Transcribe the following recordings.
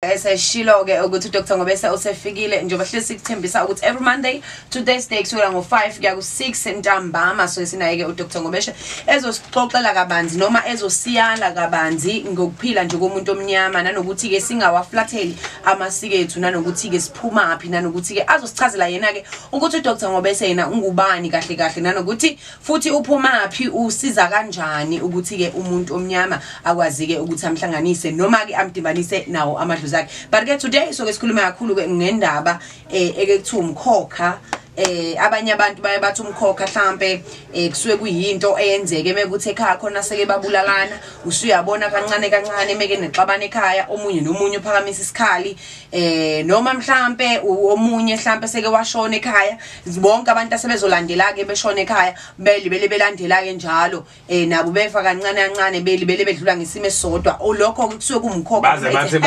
eseshilo-ke ukuthi udr ngobese usefikile njengoba hleli sikuthembisa ukuthi every monday to thursday kusukela ngo-five kuya ku-six ntambama so esinaye-ke udr ngobeshe ezosixoxela kabanzi noma ezosiyala kabanzi ngokuphila nje komuntu omnyama nanokuthi-ke singawaflatheli amasiko ethu nanokuthi-ke siphumaphi nanokuthi-ke azosichazela yena-ke ukuthi udr ngobese yena ungubani kahle kahle nanokuthi futhi uphumaphi usiza kanjani ukuthi ke umuntu omnyama akwazi ke ukuthi amhlanganise noma ke amdibanise nawo amadlozi akhe but ke today so ke sikhuluma kakhulu ke ngendaba eh ekuthiwa umkhokha eh abanye abantu baye bathi umkhokha mhlambe eh kusuke kuyinto eyenzeke mekuthi ekhaya khona seke babulalana usuyabona kancane kancane meke nexabana ekhaya omunye nomunye uphakamisa isikhali eh noma mhlambe omunye mhlambe seke washona ekhaya zibonke abantu asebezolandela-ke beshona ekhaya belibele belandela-ke njalo um nabo befa kancane kancane belibele bedlula ngesimo esisodwa olokho-ke oh, kusuke kumkhokhobaze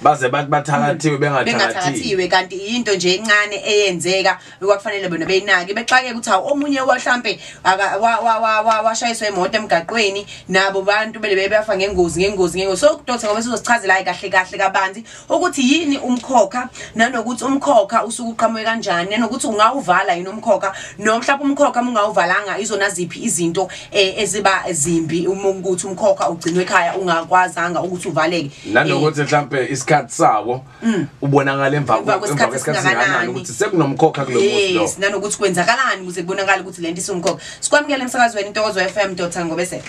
bathi bathakathiwe hmm. bengathathatiwe kanti yinto nje encane eyenzeka kwakufanele bona beyinaki bexakeke ukuthi hawu omunye wahlampe washayiswa imoto emgaqweni nabo bantu belibele beyafa ngengozi ngengozi ngengozi so kudothe ngoba sizosichazela-ke kahle kahle kabanzi ukuthi yini umkhokha nanokuthi umkhokha usuke uqhamuke kanjani nanokuthi ungawuvala yini umkhokha noma mhlawumbe umkhokha mungawuvalanga izona ziphi izinto eh, eziba zimbi uma ukuthi umkhokha ugcinwe ekhaya ungakwazanga ukuthi uvaleke nanokuthi eh, mhlawumbe isikhathi sawo mm. ubonakala emva kwesikhathi singakanani ukuthi sekunomkhokha kulo muzi lo yes nanokuthi kwenzakalani ukuze kubonakala ukuthi lento isumkhokha sikwamukele emsakazweni intokozo FM dotha ngobese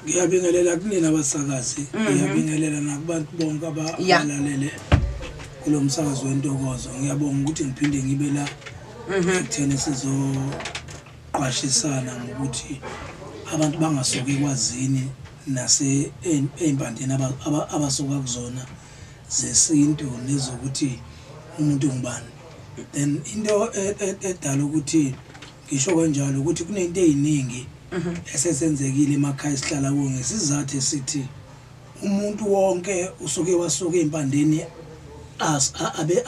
Ngiyabingelela kunina abasakazi, mhm. ngiyabingelela nakubantu bonke abalalele kulo msakazi wentokozo. Ngiyabonga ukuthi ngiphinde ngibe la mhm. ekutheni sizoqwashisana ngokuthi abantu bangasuki ekwazini nase ey'mpandeni abasuka kuzona zesintu nezokuthi umuntu ngubani then into e, e, edala ukuthi Ngisho kanjalo ukuthi kunento eyiningi esesenzekile emakhaya esihlala kuwo ngesizathu esithi umuntu wonke usuke wasuka ezimpandeni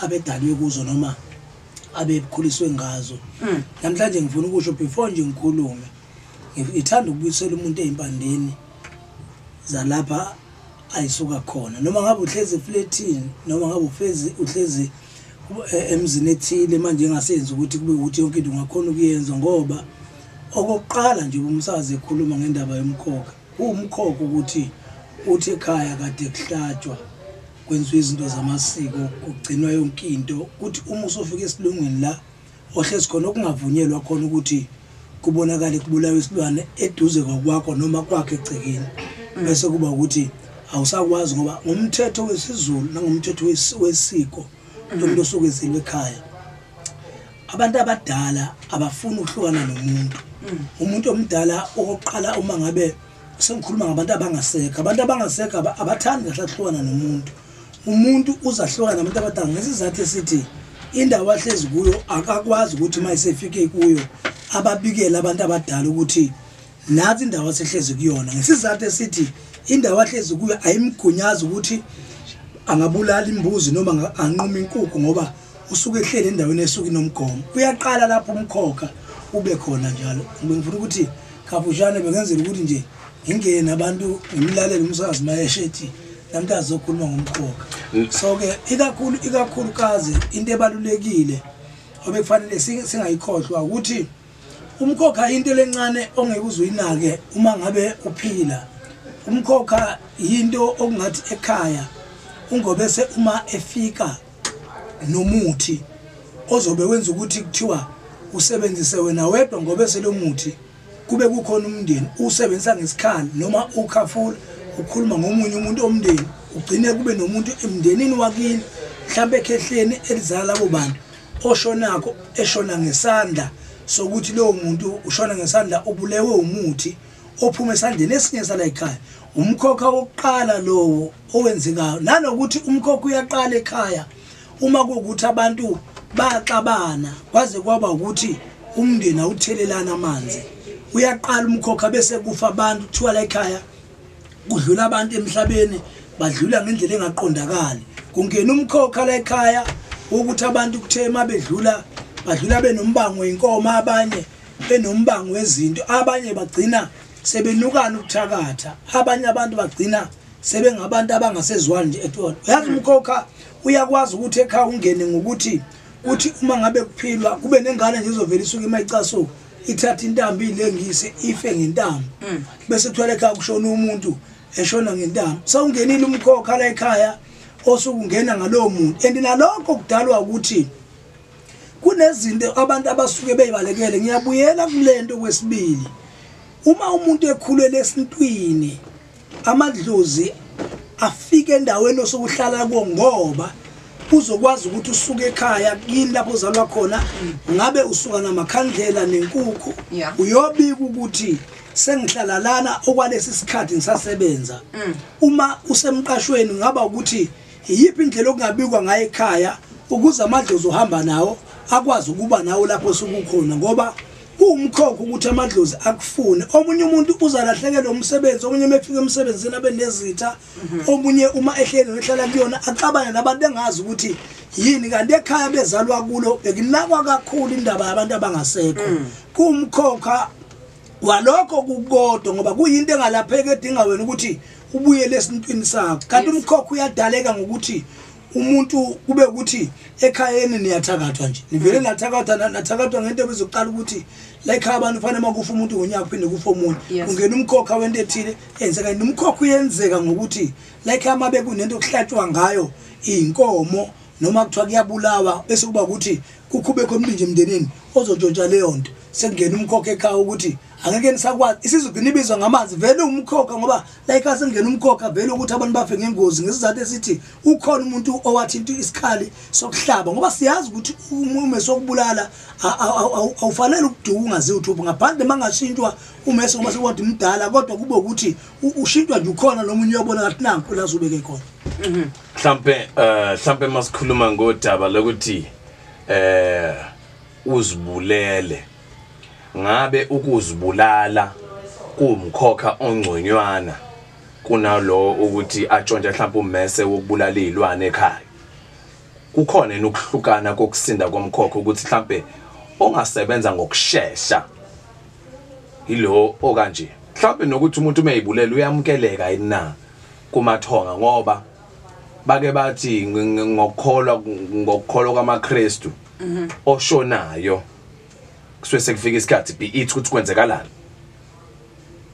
abedalwe kuzo noma abekhuliswe ngazo hmm. namhlanje ngifuna ukusho before nje ngikhulume ngithanda ukubuyisela umuntu ezimpandeni zalapha Ayi suka khona noma ngabe uhlezi efletini noma ngabe ufezi uhlezi eh, emzini ethile manje engasenzi ukuthi kube ukuthi yonke into ungakhona ukuyenza ngoba okokuqala nje umsakazi ekhuluma ngendaba yomkhokha kuwumkhokha ukuthi uthi ekhaya kade kuhlatshwa kwenziwa izinto zamasiko kugcinwa yonke into kuthi uma usofika esilungwini la Ohlezi khona okungavunyelwa khona ukuthi kubonakale kubulawa isilwane eduze kwakwakho noma kwakhe egcekeni mm. bese kuba ukuthi awusakwazi ngoba ngomthetho wesiZulu nangomthetho wesiko mm. lomuntu osuke ezelwe ekhaya abantu abadala abafuni ukuhlukana nomuntu mm. umuntu omdala okokuqala uma ngabe sengikhuluma ngabantu abangasekho abantu abangasekho abathandi kahle akuhlukana nomuntu umuntu uzahluka nabantu abadala ngesizathu esithi indawo ahlezi kuyo akakwazi ukuthi uma esefike kuyo ababikele abantu abadala ukuthi nathi indawo asehlezi kuyona ngesizathu esithi indawo ahlezi kuyo ayimgunyazi ukuthi angabulala imbuzi noma anquma inkukhu ngoba usuke ehleli endaweni esuke inomgomo uyaqala lapho umkhokha ube khona njalo ngibengifuna ukuthi kafushane bengenzela ukuthi nje ngingena abantu ngimlalele umsakazi mayesho ethi namntu azokhuluma ngomqoka so-ke ikakhulu ikakhulukazi into ebalulekile obekufanele singayikhohlwa ukuthi umkhokha into lencane ongeke uze uyinake uma ngabe uphila umkhokha yinto okungathi ekhaya ungobese uma efika nomuthi ozobe wenza ukuthi kuthiwa usebenzise wena wedwa ngobese lomuthi kube kukhona umndeni usebenzisa ngesikhali noma ukhafula ukhuluma ngomunye umuntu omndeni ugcine kube nomuntu emndenini wakini mhlawumbe ekhehleni elizala labo bantu oshonakho eshona ngesandla sokuthi lowo muntu ushona ngesandla ubulewe umuthi ophuma esandleni esinye sala ekhaya umkhokha wokuqala lowo owenzekayo nanokuthi umkhokha uyaqala ekhaya uma kuwukuthi abantu baxabana kwaze kwaba ukuthi umndeni awuthelelana amanzi uyaqala umkhokha bese kufa abantu kuthiwa la ekhaya kudlula abantu emhlabeni badlula ngendlela engaqondakali kungena umkhokha la ekhaya ukuthi abantu kuthe uma bedlula badlula benombango wenkomo abanye benombango wezinto abanye bagcina sebenukana ukuthakatha abanye abantu bagcina sebengabantu abangasezwani nje at all uyazi mm. umkhokha uyakwazi ukuthi ekhaya ungene ngokuthi kuthi mm. uma ngabe kuphilwa kube nengane nje izovela isuke imayicasuka ithatha intambo ilengise ife ngentambo mm. bese kuthola ekhaya kushona umuntu eshona ngentambo sawungenile umkhokha la ekhaya osukungena ngalowo muntu and nalokho kudalwa ukuthi kunezinto abantu abasuke beyibalekele ngiyabuyela kulento kwesibili uma umuntu ekhulele esintwini amadlozi afike endaweni osokuhlala kuwo ngoba uzokwazi ukuthi usuke ekhaya kini lapho uzalwa khona ngabe usuka namakhandlela nenkukhu yeah. uyobika ukuthi sengihlala lana okwalesi sikhathi ngisasebenza mm. uma usemqashweni ngaba ukuthi iyiphi indlela okungabikwa ngayo ekhaya ukuze amadlozi ohamba nawo akwazi ukuba nawo lapho sukukhona ngoba Kuwumkhokha ukuthi amadlozi akufune. Omunye umuntu uzalahlekelwa umsebenzi, omunye uma efika emsebenzini abe nezitha, omunye uma ehleli nehlala kuyona axabane nabantu engazi ukuthi yini kanti ekhaya bezalwa kulo bekunakwa kakhulu indaba yabantu abangasekho. Mm. Kuwumkhokha walokho kukodwa ngoba kuyinto engalapheki edinga wena ukuthi ubuyele esintwini sakho. Kanti umkhokha uyadaleka ngokuthi umuntu kube ukuthi ekhayeni niyathakathwa nje nivele mm. nathakathwa nathakathwa ngento ebezoqala ukuthi la ekhaya abantu kufanele uma kufa umuntu ngonyaka kuphinde kufa omunye ungena umkhokha wento ethile eyenzeka yini umkhokha uyenzeka ngokuthi la ekhaya uma bekunento okuhlatshwa ngayo iy'nkomo noma kuthiwa kuyabulawa bese kuba ukuthi kukhubekho omningi emndenini ozotshontsha leyo nto sekungena umkhokha ekhaya ukuthi angeke nisakwazi isizwe gcina ibizwa ngamanzi vele umkhokha ngoba like asengena umkhokha vele ukuthi abantu bafe ngengozi ngesizathu esithi ukhona umuntu owathinta isikhali sokuhlaba ngoba siyazi ukuthi umume sokubulala awufanele ukuduka ungazi uthupha ngaphandle mangashintshwa umese ngoba sekwadi mdala kodwa kube ukuthi ushintshwa nje ukhona nomunye uyobona ngathi nanku lazubeke khona mhm. mhlampe eh, mhlampe masikhuluma ngodaba lokuthi eh uzibulele Ngabe ukuzibulala kuwumkhokha ongconywana kunalowo ukuthi atshontshe mhlawumbe ummese wokubulala izilwane ekhaya? Kukhona yini ukuhlukana kokusinda komkhokha ukuthi mhlawumbe ongasebenza ngokushesha yilowo okanje? Mhlawumbe nokuthi umuntu uma eyibulela uyamukeleka yini na kumathonga ngoba bake bathi ngokukholwa ngokukholwa kwamaKristu oshonayo kusuke sekufika isikhathi be it ukuthi kwenzekalani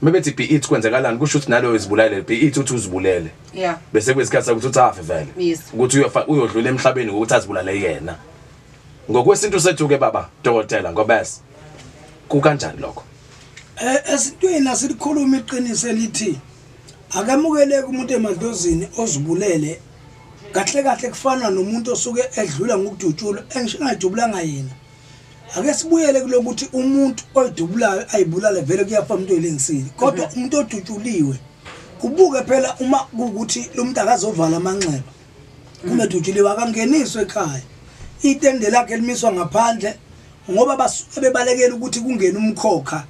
mebethi be it kwenzekalani kusho ukuthi naloyo izibulele be it ukuthi uzibulele yeah bese kwesikhathi ukuthi uthafe vele Yes. ukuthi uyofa- uyodlula emhlabeni ngokuthi azibulale yena ngokwesintu sethu ke baba dokotela ngobese kukanjani lokho Eh, esintweni asilikhuluma iqiniso elithi akamukeleki umuntu emadlozini ozibulele kahle kahle kufana nomuntu osuke edlula ngokudutshulwa engisho ngayidubulanga yena ake sibuyele kulokuthi umuntu oyidubulayo ayibulale vele kuyafa umuntu oyilengisile kodwa mhm. umuntu odutshuliwe kubuke phela uma ukuthi lo muntu akazovala amanxeba mhm. kumedutshuliwe akangeniswe ekhaya itende lakhe limiswa ngaphandle ngoba basuke bebalekela ukuthi kungene umkhokha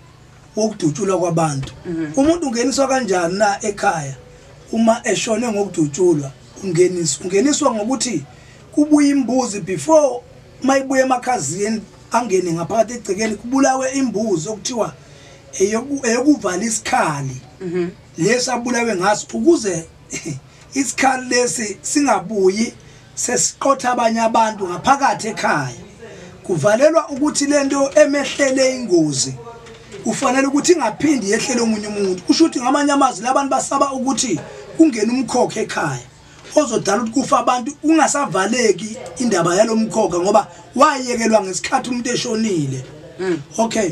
wokudutshulwa kwabantu mhm. umuntu ungeniswa kanjani na ekhaya uma eshone ngokudutshulwa ungeniswa ungeniswa ngokuthi kubuye imbuzi before mayibuye emakhazini angene ngaphakathi egcekeni kubulawe imbuzi okuthiwa eyokuvala isikhali mhm. lesi abulawe ngaso ukuze isikhali lesi singabuyi sesiqotha abanye abantu ngaphakathi ekhaya kuvalelwa ukuthi lento emehlele ingozi kufanele ukuthi ingaphindi yehlele omunye umuntu kusho ukuthi ngamanye amazwi labantu basaba ukuthi kungena umkhokha ekhaya ozodala ukuthi kufa abantu kungasavaleki indaba yalomkhokha ngoba wayekelwa ngesikhathi umuntu eshonile hmm. okay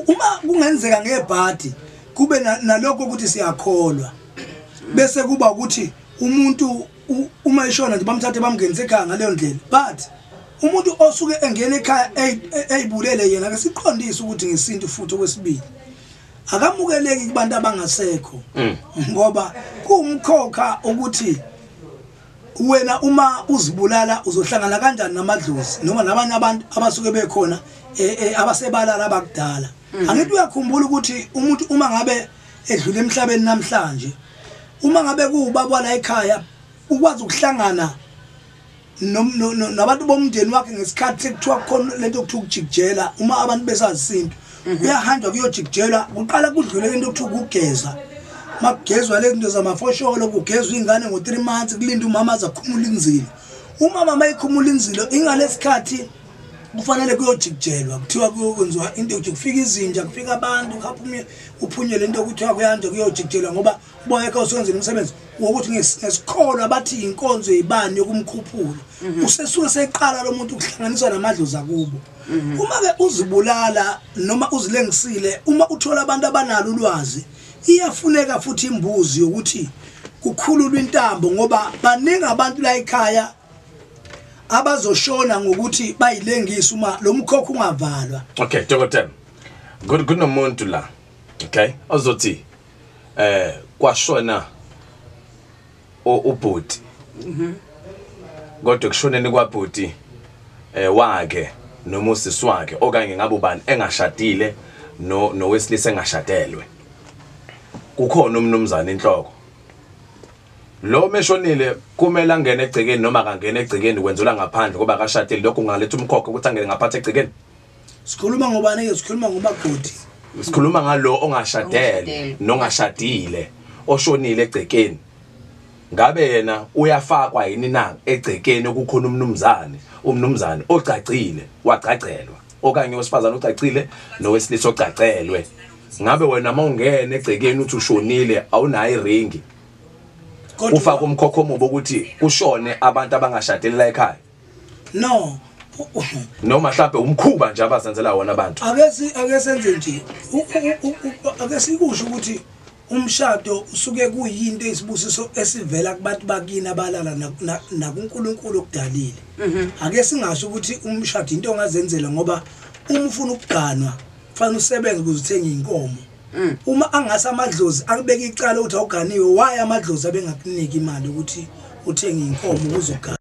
uma kungenzeka ngebhadi kube nalokho ukuthi siyakholwa bese kuba ukuthi umuntu uma eshona nje bamthathe bamngenise ekhaya ngaleyo ndlela but umuntu osuke engena ekhaya eyibulele yena ke siqondise ukuthi ngesintu futhi okwesibili akamukeleki kubantu abangasekho mm. ngoba kuwumkhokha ukuthi Wena uma uzibulala uzohlangana kanjani namadlozi noma nabanye abantu abasuke bekhona eh, eh, abasebalala abakudala. Mm. Angithi uyakhumbula ukuthi umuntu uma ngabe edlule emhlabeni namhlanje uma ngabe kuwubaba la ekhaya ukwazi ukuhlangana nabantu bomndeni wakhe ngesikhathi sekuthiwa khona lento okuthiwa ukujikijela uma abantu besazisinto mhm. kuyahanjwa kuyojikijelwa kuqala kudlule into okuthiwa ukugeza uma kugezwa le zinto zamafosholo kugezwa iy'ngane ngo-three months kulinda umama aze akhumula inzilo umama uma ikhumula inzilo ingalesikhathi kufanele kuyojikijelwa kuthiwa kuyokwenziwa into yokuthi kufika izinja kufika abantu khapha uphunyele into okuthiwa kuyanja kuyojikijelwa ngoba Bonke kho sikwenzile umsebenzi wokuthi ngesikholo abathi inkonzo yibani yokumkhuphula. Mhm. Usesuke seqala lo muntu ukuhlanganiswa namadloza kubo. Mhm. Uma ke uzibulala noma uzilengisile uma uthola abantu abanalo ulwazi iyafuneka futhi imbuzi yokuthi kukhululwa intambo ngoba baningi abantu la ekhaya abazoshona ngokuthi bayilengisa uma lo mkhokho ungavalwa okay dokotela kunomuntu la okay ozothi eh kwashona ubhuti mhm. kodwa kushoneni kwabhuti eh wake noma usisi wakhe okanye ngabe ubani engashadile no nowesilisa engashadelwe kukhona umnumzane inhloko lo meshonile kumele angene egcekeni noma akangene egcekeni kwenzelwa ngaphandle ngoba akashadile lokho kungaletha umkhokha ukuthi angene ngaphansi egcekeni sikhuluma ngobani ke sikhuluma ngomagodi sikhuluma ngalo ongashadele nongashadile oshonile egcekeni ngabe yena uyafakwa yini na egcekeni okukhona umnumzane umnumzane ogcagcile wagcagcelwa okanye owesifazane ogcagcile nowesilisa ogcagcelwe ngabe wena uma ungena egcekeni uthi ushonile awunayo iringi ufaka umkhokho omubi ukuthi kushone abantu abangashadeli la ekhaya no noma mhlawumbe umkhuba nje abazenzela wona abantu akesi akesenze nje akesikusho ukuthi umshado usuke kuyinto isibusiso esivela kubantu bakini abalala nakuNkulunkulu okudalile mhm. ake singasho ukuthi umshado into ongazenzela ngoba uma ufuna ukuganwa kufanele usebenze ukuze uthenge inkomo mm. uma angase amadlozi akubeka icala ukuthi awuganiwe waye amadlozi abengakuniki imali ukuthi uthenge inkomo uzogana